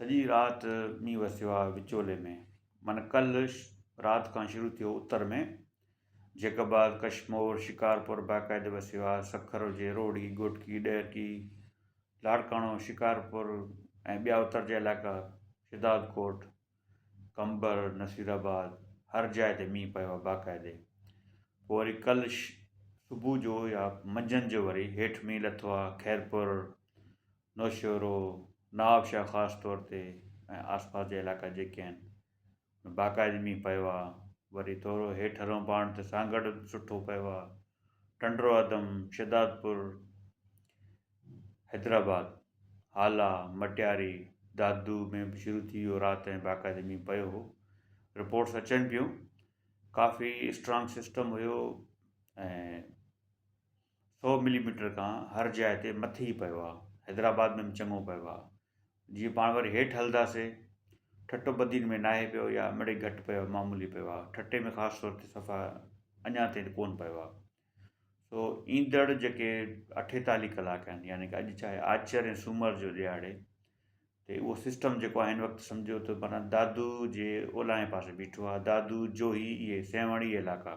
سڄي رات مينهن وسيو آهي وچولي ۾، معنيٰ ڪلهه رات کان شروع ٿيو اتر ۾، جيڪب آباد، ڪشمور، شڪارپور باقاعدي وسيو آهي، سکر هجي، روهڙي، گهوٽڪي، ڏهرڪي، لاڙڪاڻو، شڪارپور ۽ ٻيا اتر جا علائقا، شهدادڪوٽ، قمبر، نصير آباد، هر جاء تي مينهن پيو آهي باقاعدي. پوء وري ڪلهه صبح جو يا منجهند جو وري هيٺ مينهن لٿو آهي، خيرپور، نوشهرو، نوابشاهه خاص طور تي ۽ آسپاس جا علائقا جيڪي آهن ان باقاعدي مينهن پيو آهي وري ٿورو هيٺ هلون پاڻ ته سانگهڙ به سٺو پيو آهي ٽنڊو عدم، شهدادپور، حيدرآباد، هالا، مٽياري، دادو ۾ به شروع ٿي ويو رات ۽ باقاعدي مينهن پيو هو رپورٽس اچن پيون ڪافي اسٽرانگ سسٽم هيو ۽ سؤ ملي ميٽر کان هر جاء تي مٿي ئي پيو آ حيدرآباد ۾ به چڱو پيو آ جيئن پاڻ وري هيٺ هلنداسي ٺٽو بدين ۾ ناهي پيو يا مڙئي گهٽ پيو آ معمولي پيو آ ٺٽي ۾ خاص طور تي صفا اڃان تائين ڪون پيو آ سو ايندڙ جيڪي اٺيتالي ڪلاڪ آهن يعني ڪه اڄ چاهي آچر ۽ سومر جو ڏيهاڙي ته اهو سسٽم جيڪو آهي هن وقت سمجهو ته معنيٰ دادو جي اولاهين پاسي بيٺو آ دادو جوهي اهي سيوهڻ اهي علائقا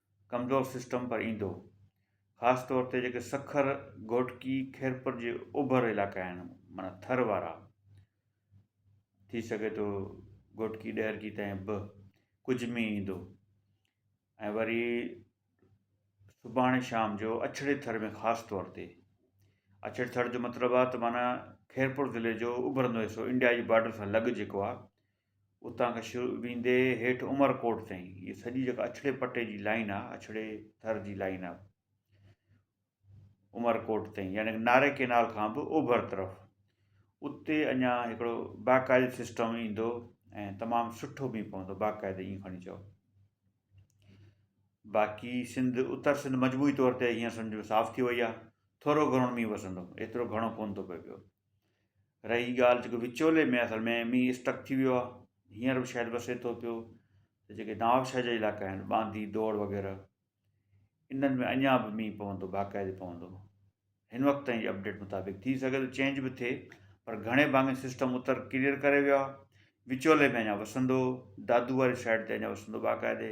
ڪمزور سسٽم پر ايندو. خاص طور تي جيڪي سکر، گهوٽڪي، خيرپور جي اوڀر علائقا آهن معنيٰ ٿر وارا ٿي سگهي ٿو گهوٽڪي ڏهرڪي تائين به ڪجهه مينهن ايندو ۽ وري سڀاڻي شام جو اڇڙي ٿر ۾ خاص طور تي اڇڙي ٿر جو مطلب آهي ته معنيٰ خيرپور ضلعي جو اوڀرندو حصو انڊيا جي بارڊر سان لڳ جيڪو آهي اتان کان شروع ويندي هيٺ عمر ڪوٽ تائين هي سڄي جيڪا اڇڙي پٽي جي لائن آهي اڇڙي ٿر جي لائن آهي عمر ڪوٽ تائين يعني ناري ڪينال کان بھ اوڀر طرف اتي اڃا ھڪڙو باقاعدي سسٽم ايندو ۽ تمام سٺو بھ پوندو باقاعدي ايئن کڻي چئو باقي سنڌ اتر سنڌ مجموعي طور تي ھيئن سمجھو صاف ٿي وئي آھي ٿورو گھڻو مينھن وسندو ايترو گھڻو ڪونھ ٿو پئي پيو رهي ڳالهه جيڪو وچولي ۾ اصل ۾ مينهن اسٽڪ ٿي ويو آهي هينئر به شايد وسي ٿو پيو ته جيڪي نوابشاهه جا علائقا آهن ٻانڌي دور وغيره انهن ۾ اڃا به مينهن پوندو باقاعدي پوندو هن وقت تائين جي اپڊيٽ مطابق ٿي سگهي ٿو چينج به ٿئي پر گهڻي ڀاڱي سسٽم اتر ڪليئر ڪري ويو آهي وچولي ۾ اڃا وسندو دادو واري سائيڊ تي اڃا وسندو باقاعدي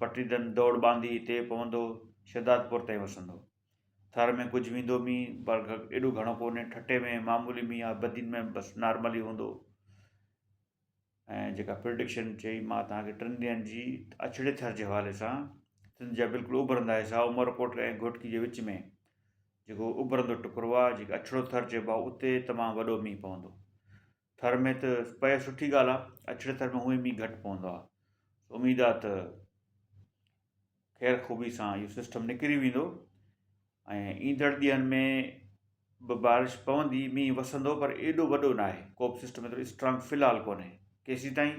پٽيدن دوڙ ٻانڌي اتي پوندو، شھدادپور تائين وسندو. ٿر ۾ ڪجهه ويندو مينهن پر ايڏو گهڻو ڪونهي، ٺٽي ۾ معمولي مينهن آهي، بدين ۾ بس نارمل ئي هوندو. ۽ جيڪا پرڊڪشن چئي مان توهان کي ٽن ڏينهن جي اڇڙي ٿر جي حوالي سان سنڌ جا بلڪل اڀرندا حصا عمرڪوٽ ۽ گهوٽڪي جي وچ ۾ جيڪو اڀرندو ٽڪرو آهي جيڪي اڇڙو ٿر چئبو آهي اتي تمام وڏو مينهن پوندو. ٿر ۾ ته پئي سٺي ڳالهه آ اڇڙي ٿر ۾ هونئن مينهن گهٽ پوندو آ اميد آ ته خير خوبي سان اهو سسٽم نڪري ويندو ۽ ايندڙ ڏينهن ۾ به بارش پوندي مينهن وسندو پر ايڏو وڏو نه آهي ڪوب سسٽم ايترو اسٽرانگ في الحال ڪونهي ڪيسي تائين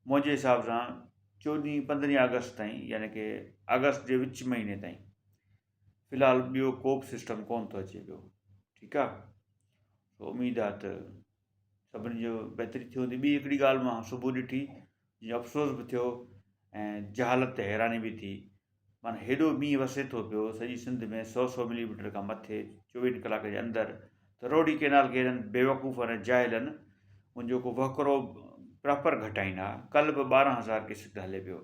منهنجي حساب سان چوڏهين پندرهين آگسٽ تائين يعني ڪي آگسٽ جي وچ مهيني تائين في الحال ٻيو ڪو به سسٽم ڪون ٿو اچي پيو ٺيڪ آ اميد آ ته سڀني جو بهتري ٿي وندي ٻي هڪڙي ڳالهه مان صبح ڏٺي جنهنجو افسوس به ٿيو ۽ جهالت تي حيراني به ٿي معنٰي هيڏو مينهن وسي ٿو پيو سڄي سنڌ ۾ سؤ سؤ ملي ميٽر کان مٿي چوويهن ڪلاڪ جي اندر ته روڊي ڪينال کي هنن بيوقوفن ۽ جاهلن ان جو ڪو وهڪرو پراپر گهٽائين ها ڪل به ٻارهن هزار ڪيسڪٽ هلي پيو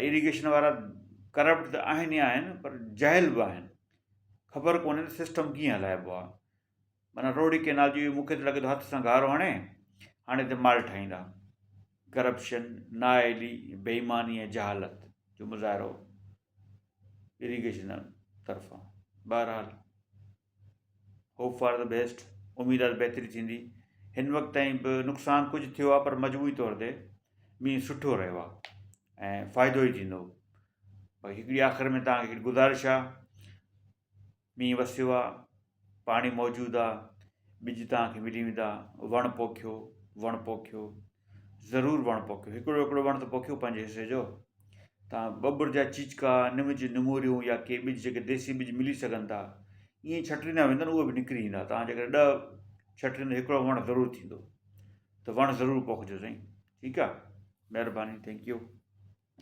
ايريگيشن وارا ڪرپٽ ته آهن ئي آهن پر جاهل به آهن خبر ڪونهي ته سسٽم ڪيئن هلائبو آهي معنيٰ روهڙي ڪئنال جي مونکي ته لڳي ٿو هٿ سان گارو هڻي هاڻي هتي مال ٺاهيندا ڪرپشن نااهلي بيماني ۽ جهالت جو مظاهرو ايريگيشن طرفان بهرحال هوپ فار دي بيسٽ، اميد آهي ته بهتري ٿيندي، هن وقت تائين به نقصان ڪجهه ٿيو آهي پر مجموعي طور تي مينهن سٺو رهيو آهي ۽ فائدو ئي ٿيندو باقي هڪڙي آخر ۾ تهان کي هڪڙي گذارش آهي مينهن وسيو آهي پاڻي موجود آهي ٻج تهان کي ملي ويندا وڻ پوکيو وڻ پوکيو ضرور وڻ پوکيو هڪڙو هڪڙو وڻ ته پوکيو پنهنجي حصي جو تان ٻٻر جا چيچڪا نم جون نموريون يا ڪي ٻج جيڪي ديسي ٻج ملي سگهن ٿا ائين ڇٽيندا ويندا اهي به نڪري ايندا تان جيڪر ڏهه ڇٽيندا هڪڙو وڻ ضرور ٿيندو ته وڻ ضرور پوکجو سائين ٺيڪ آ مهرباني ٿينڪ يو